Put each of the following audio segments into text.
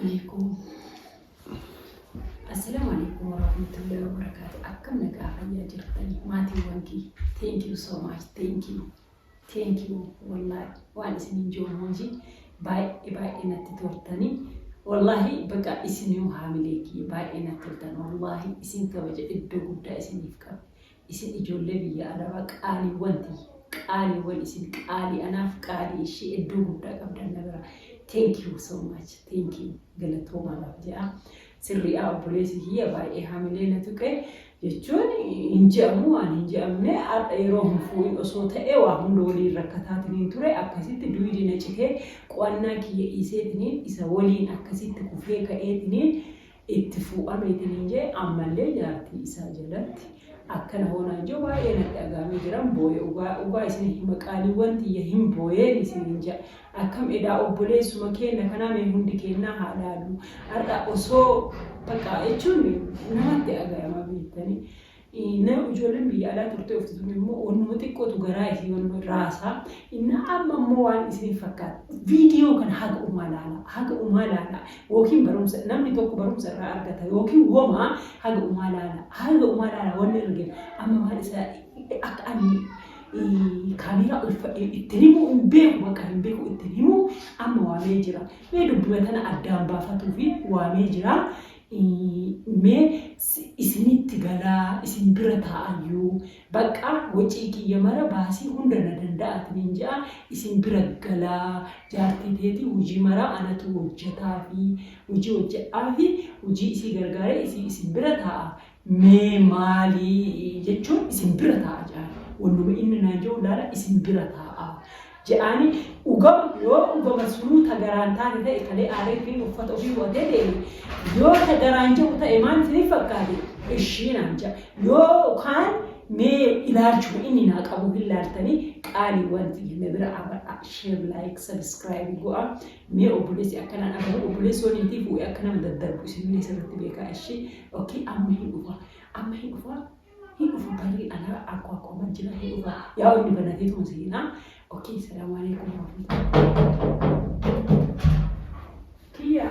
Aleekum. Assalaamu aleekum warahmatullahi wabarakaatu. Akkam nagaa fayyaa jirtani maatiiwwan kiyya. Thank you so much. Thank you. Thank you. Wallaahi waan isiniin jiru hojii baay'ee baay'ee natti toltani. Wallaahi baqa isinuu haamilee kiyya baay'ee natti toltan. Wallaahi isin kabaja iddoo guddaa isiniif qaba. Isin ijoollee biyya Arabaa qaaliiwwan tiyya. Qaaliiwwan isin qaalii anaaf qaalii ishii edduu guddaa qabdan na biraa. Thank you so much. Thank you. Galatoomaa naaf jedha. Sirriidha obboleessi kiyya baay'ee hamilee na tuqe jechuun hin je'amu waan hin je'amne har'a yeroo hin fuudhin osoo ta'e waa hunda waliin rakkataatiniin ture akkasitti duwidi na citee qo'annaa kiyya dhiiseetiniin isa waliin akkasitti kufee ka'eetiniin itti fuu'ameeti niin jee ammallee jaartii isaa jalatti akkana hoo naan jeu baay'ee natti dhaga'amee jiran booye ugaa dhugaa isin hima qaaliiwwan tiyya hin booyeen isinin ja akkam edaa obboleessuma keenna kanaa mee hundi keennaa haa laallu har'a osoo baqa jechuun namatti dhaga'ama beettanii Inna ijoolleen biyya alaa turtee ofti tun immoo wannuma xiqqootu garaa isii wannuma raasaa. Inna amma immoo waan isiniif fakkaata. Viidiyoo kana haga umaa laalaa. Haga umaa laalaa. Yookiin barumsa namni tokko barumsa irraa argata. Yookiin woma haga umaa laalaa. Haga umaa laalaa wanni irra gale. Amma maal isa akka ani kaameeraa uffadhee ittiin himuu hin beeku bakka hin beeku ittiin himuu amma waamee jira. Mee dubbima tana addaan baafatuufi waamee jira. Mee isinitti galaa isin bira taa'ayyuu baqqa wocii kiyya mara baasii hunda na danda'atiniin je'a isin bira galaa jaartii teetii hujii maraa anatu wojjataafii hujii wojjadhaafii hujii isii gargaaree isii isin bira taa'a Mee maali jechuun isin bira taa'a jedhaan. Wannuma inni naa je'u laala isin bira taa'a. Je'aani dhugama yoo dhugama sunuu ta garaan taate ta'e kalee aaree fiin uffata ofii bu'atee deeme yoo ta garaan je'u ta'e maal isiniif fakkaate ishii naan ja'a. Yoo kaan mee ilaalchuma inni naa qabu hin laaltanii qaaliiwwan tiyya na bira aabadhaa. Share, like, subscribe go'a. Mee obboleessi akkanaa dhagahu obboleessi yoo niitii fuudhe akka nama daddarbu isinillee sirriitti beekaa ishii ok amma hin dhufa amma hin dhufa hin dhufa barii alaa akkoo akkoo man jira hin dhufa yaa inni banateetuma seenaa ok salaamu alaikum warahmatullahi kiyyaa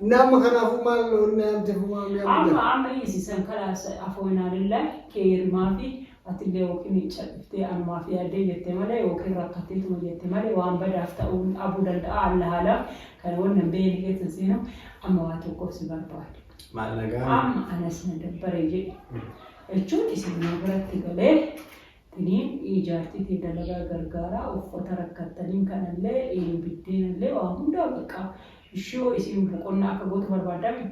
Nama kanaafuu maal onnee amte humaa mi'a Amma mudan. amma dhiisi san kalaas afoonaa lillaah keeyri maafi atillee yookiin miicca dhiftee anumaaf yaaddee jette malee yookiin rakkatteetuma jette malee waan badaaf ta'uu dhabuu danda'a allaah a'lam kana wanna hin beeyne keessa hin seenu amma waa tokkoof si barbaade Maal nagaan. amma anas na dabbare jedhe jechuun isin na biratti galee Tini jaartii tee dalagaa gargaaraa uffata rakkattaniin kanallee biddeenallee waa hundaa bakka ishii hoo isiin boqonnaa akka gootu barbaaddaa mii?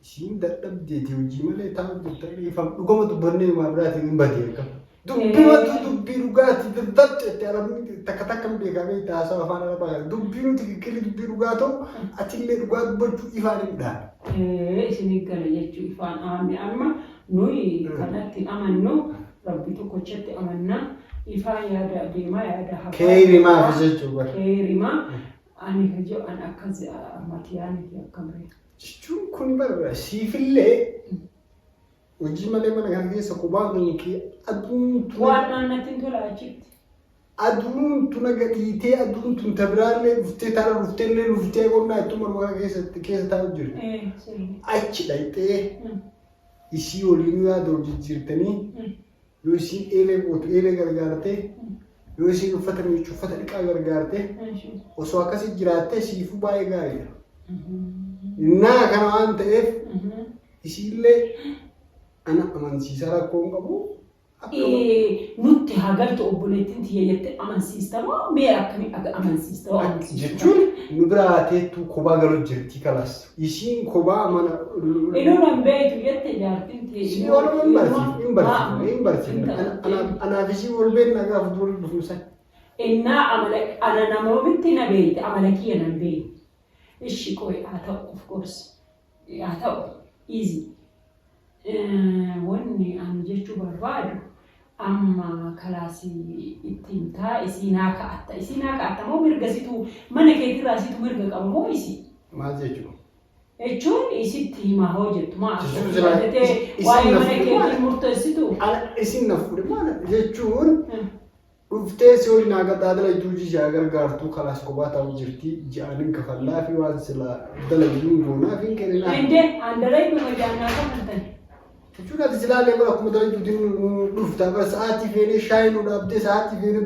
Isiin dadhabdeeti hojii malee taa'u jirta dhiifam dhugama dubbannee waa biraatiin hin badee akka. Dubbumatu dubbii dhugaati birdat jettee arabni takka takka hin beekaa beektaa haasoo afaan arabaa kana dubbii nuti kikkilli dubbii dhugaa ta'u atillee dhugaa dubbachuu ifaan hin dhaa. Ee isin eeggala jechuu ifaan aamne amma Nuyi kanatti amannu Rabbi tokkochatti amanna. Ifaa yaada deemaa yaada hafaa. Keeyrimaa fi deemaa. jechuu bara. Keeyrimaa ani hojii an akkas ammati yaaniti akkamre. Jechuun kun bara siifillee hojii malee mana kana keessa qubaa kun kee aduun Waan naannatti hin tola achitti. Aduun tuna gadhiitee aduun tun ta biraallee dhuftee tana dhufteellee luftee qonnaa ittuma dhugaa keessatti keessa taa'u jirti. Eh, sirri. Achi dhaqxee Mm. isii waliin yaada wal jijjiirtanii Mm. yoo isiin eelee gootu eelee gargaartee Mm. yoo isiin uffata miiccu uffata dhiqaa gargaartee Eshi. osoo akkasii jiraattee siifuu baay'ee gaariidha. Mhm. Innaa kana waan ta'eef Mhm. isiillee ana amansiisaa rakkoo hin qabu Ee nutti haa galtu obboleettiin tiyya jettee amansiista moo mee akkamiin aga amansiista hoo amansiista. jechuun nu biraa teettuu kobaa galuu jirti kalas isiin kobaa mana Inuu nan beektu jette jaartiin tiyya. Isii Oromoo hin barsiifne, hin barsiifne, hin barsiifne. Ana- ana- Anaaf isii wal beekna gaafa durii dhufnu san. Innaa amala ana namoomitti na beekti amala kiyya nan beekti. Ishi qoy haa ta'u of gorsi. haa ta'u easy. Wanni ani jechuu barbaadu amma kalaasii itti himtaa isii naa ka'atta isii naa ka'atta moo mirga situ mana keetirraa situ mirga qaba moo isii Maal jechuudha? jechuun isitti himaa hoo jettu maa Jechuun akkatti silaa yaaddatee is- isin waa'ee na mana fuudhe keetiin maal? murteessitu Ana isin na fuudhe maal jechuun Hmm. Dhuftee sioli naa gataa dalaytuu jii shaa gargaartuu kalaas kopaa taa'uu jirtii ji'aanin kafallaa fi waan silaa dalayuun goonaa fi hin kenninaa. Ende andaray kuma jaanaa kafaltan. Jechuun ati silaa illee bara kuma dalaytuutiin dhuftaa bara sa'aatii feenee shaayii nu dhaabdee sa'aatii feenee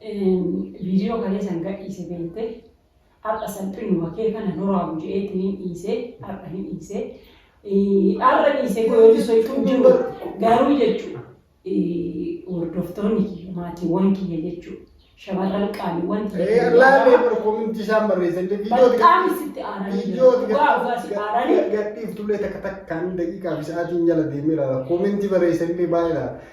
Video kalee san gadhiise beeyte har'a salphinnuma kee kana duraa bujeetiin hin dhiise har'a hin dhiise har'a dhiise goyooti sochuu jiru garuu jechu hordoftoonni kiyya maatiiwwan kiyya jechuu shamarran qaaliiwwan kiyya Laalee bara kominti isaan barreessan Bataam isitti aaranii jiru. Dhugaa dhugaa si aaranii. Gadhiif tullee takka takkaan daqiiqaa fi sa'aatiin jala deemee ilaala. Kominti barreessan illee baay'ee ilaala.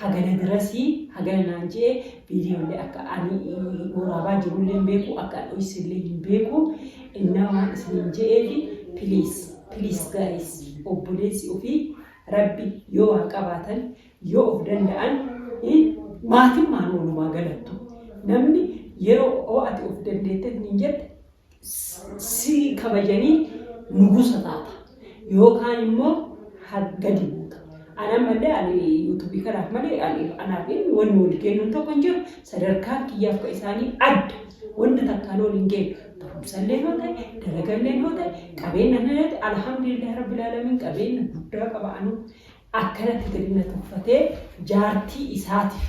Hagana dirasi hagana naan je'e viidiyoollee akka ani waraabaa jirullee hin beeku akka an dhoysullee hin beeku innaa waan isiniin je'eefi please please guys obboleessi ofii rabbi yoo waa qabaatan yoo of danda'an maatimmaan walumaa galattu namni yeroo ati of dandeette isiniin jette si kabajanii nugusa taata yookaan immoo ha- gadi buuta. Ana malee ani yuutuubii kanaaf malee ani anaaf inni wanni wal kennuun tokko hin jiru sadarkaa kiyyaaf ka isaanii adda wanta takkaan ol hin geenye barumsallee yoo ta'e dalagallee yoo ta'e qabeenya illee yoo ta'e alhamdulillah rabbil alamin qabeenya guddaa qaba anu akkanatti gadi na tuffatee jaartii isaatiif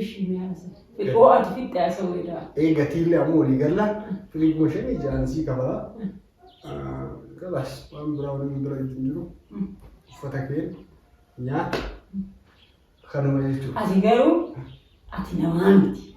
Ishii mee haasa'e. Xiqqoo ati fixxe haasa'uu edaa. Ee gatiillee ammoo walii galla firiij mooshinii ja'an sii kafala. Galas waan biraa waliin bira hin jiru. Uffata kee nyaata kanuma jechuudha. Ati garuu ati namaa miti.